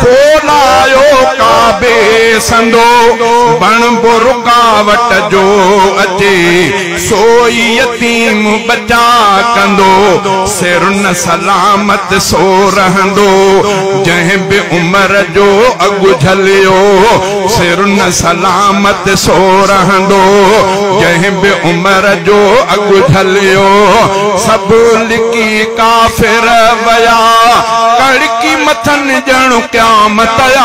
ڪو نه آيو ڪعبي سندو، بڻبو رڪاوٽ جو اچي، سو ئي يتيم ٻچا ڪندو، سر نه سلامت سو رهندو، جنهن به عمر جو اڳ جهليو، سر نه سلامت سو رهندو، جنهن به عمر جو اڳ جهليو، سڀ لڪي ڪافر ويا، باقي مٿن ڄڻ قيامت آ،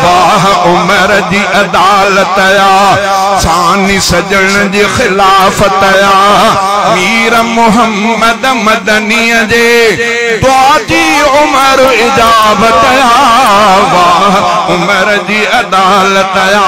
واھ عمر جي عدالت آ، ثاني سڄڻ جي خلافت آ، مير محمد مدنيء جي دعا جي عمر اجابت آ، واھ عمر جي عدالت آ.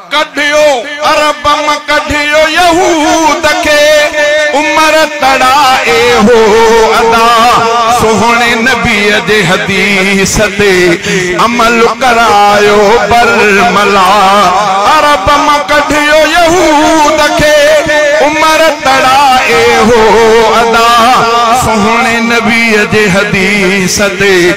ڪڍيو اربم ڪڍيو يهود کي عمر تڙائي هو ادا سهڻي نبي جي حديث تي عمل ڪرايو برملا اربم ڪڍيو يهود کي عمر تڙائي هو ادا سهڻي نبي جي حديث تي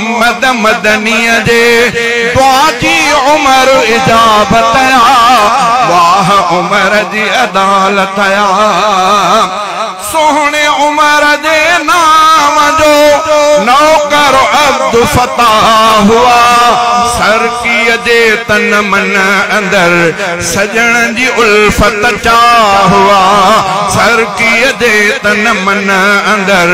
محمد مدنيء جي دعا جي عمر اجابت يا واھ عمر جي عدالت يا سهڻي عمر جي نام جو نوڪر عبدالفتاح هئا سرڪيء جي تن من اندر سڄڻ جي الفت چاھ هئا سرڪيء جي تن من اندر